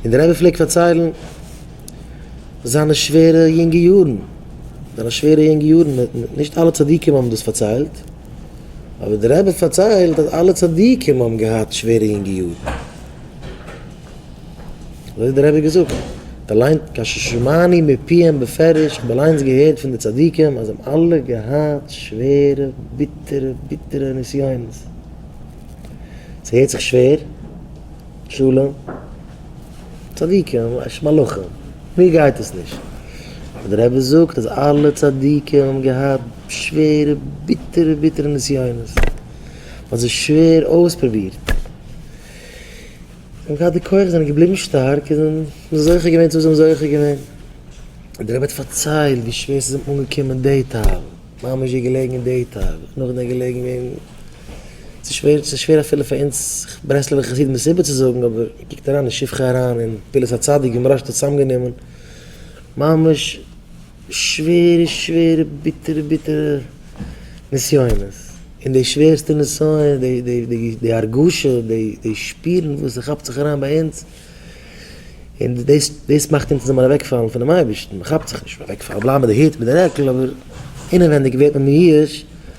און דער רבי פלעגט פארציילן זיינע שווערע יונגע יארן, זיינע שווערע יונגע יארן, נישט אלע צדיקים האבן דאס פארציילט, אבער דער רבי פארציילט אז אלע צדיקים האבן געהאט שווערע יונגע יארן, אזוי האט דער רבי געזאגט, באליינט כששמעני מפיהם בפירוש, כ'האב אליינס געהערט פון די צדיקים אז זיי האבן אלע געהאט שווערע ביטערע ביטערע נסיונות, ס'הערט זיך שווער, שלום, צדיקים, אשת מלאכים, מיר גייט עס נישט. אבער דער רבי זאגט אז אלע צדיקים האבן געהאט שווערע ביטערע ביטערע נסיונות, מען האט זיי שווער אויספרובירט, און געהאט די כח זענען געבליבן שטארק און זוכה געווען צו וואס זיי האבן זוכה געווען. און דער רבי האט פארציילט ווי שווער ס'איז אים אנגעקומען די תאוות, ממש געלעגן אין די תאוות, נאכדעם געלעגן אין. ס'איז שווער, ס'איז שווער אפילו פאר אונז ברסלב'ע חסידים דאס איבערצוזאגן, אבער קוקט אריין אין שבחי אריין און פעולת הצדיק ווי מוהראש האט עס צוזאמגענומען, ממש שווערע שווערע ביטערע ביטערע נסיונות, און די שווערסטע נסיון, די די די די הרגשה, די די שפירן וואס ס'כאפט זיך אריין ביי אונז, און דאס דאס מאכט אונז זעמיר אוועקפאלן פונעם אייבערשטן, מ'כאפט זיך נישט, מ'וועקפאלן, מ'בלייבט מיט די הוט, מ'בלייבט מיט די רעקל, אבער אינעווייניג ווערט מען מיואש.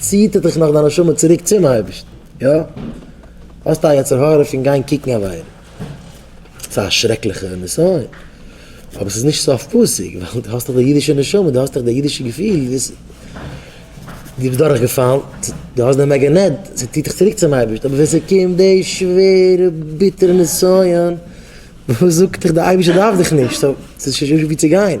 ציעט ער דיך נאך דיין נשמה צוריק צום אייבערשטן, יא? האסט א יצר הרע פון גיין קוקן עבירה, ס'איז א שרעקליכע נסיון, אבער ס'איז נישט סוף פסוק, ווייל דו האסט דאך די אידישע נשמה, דו האסט דאך די אידישע געפיל, דאס דו ביסט דורך געפאלן, דו האסט די מעגענעט, ס'ציעט דיך צוריק צום אייבערשטן, אבער ווען ס'קומט די שווערע ביטערע נסיון, זאגט דיך די אייבערשטער דארף דיך נישט, סאו ס'איז נישט ווי צו גיין.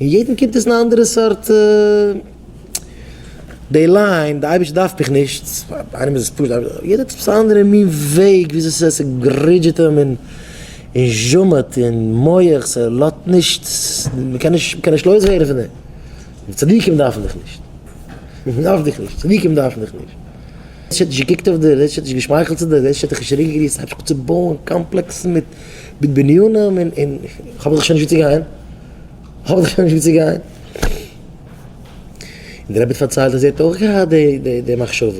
און יעדן קומט עס אין א אנדערע סארט די ליין, די אייבישטער דארף מיך נישט, פאר איינעם איז עס פשוט, יעדער האט עפעס א אנדערע מין וועג וויאזוי עס גרודזשעט אים און זשומעט אין מח, ס'לאזט נישט, מ'קען נישט, מ'קען נישט לויז ווערן פון דעם, צדיקים דארפן דיך נישט, מ'דארף דיך נישט, צדיקים דארפן דיך נישט, דער איז נישט געקוקט אויף דיר, דער איז נישט געשמייכלט צו דיר, דער איז נישט דיך צוריק געגריסט, הייבסט אן צו בויען קאמפלעקסן מיט בנינים און, און, כ'האב דאך שוין נישט וואו צו גיין. האב איך שוין נישט ווי צו גיין. און דער רבי האט פארציילט אז ער האט אויך געהאט די די מחשבות,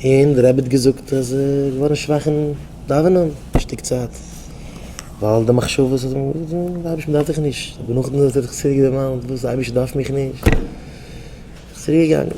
און דער רבי האט געזאגט אז ער איז געווארן שוואך אין דאווענען א שטיק צייט, ווייל די מחשבות האט אים געזאגט, אייבערשטער מען דארף דיך נישט, אבער נאכדעם האט ער זיך צוריק דערמאנט, וואס? אייבערשטער דארף מיך נישט, איז צוריק געגאנגען.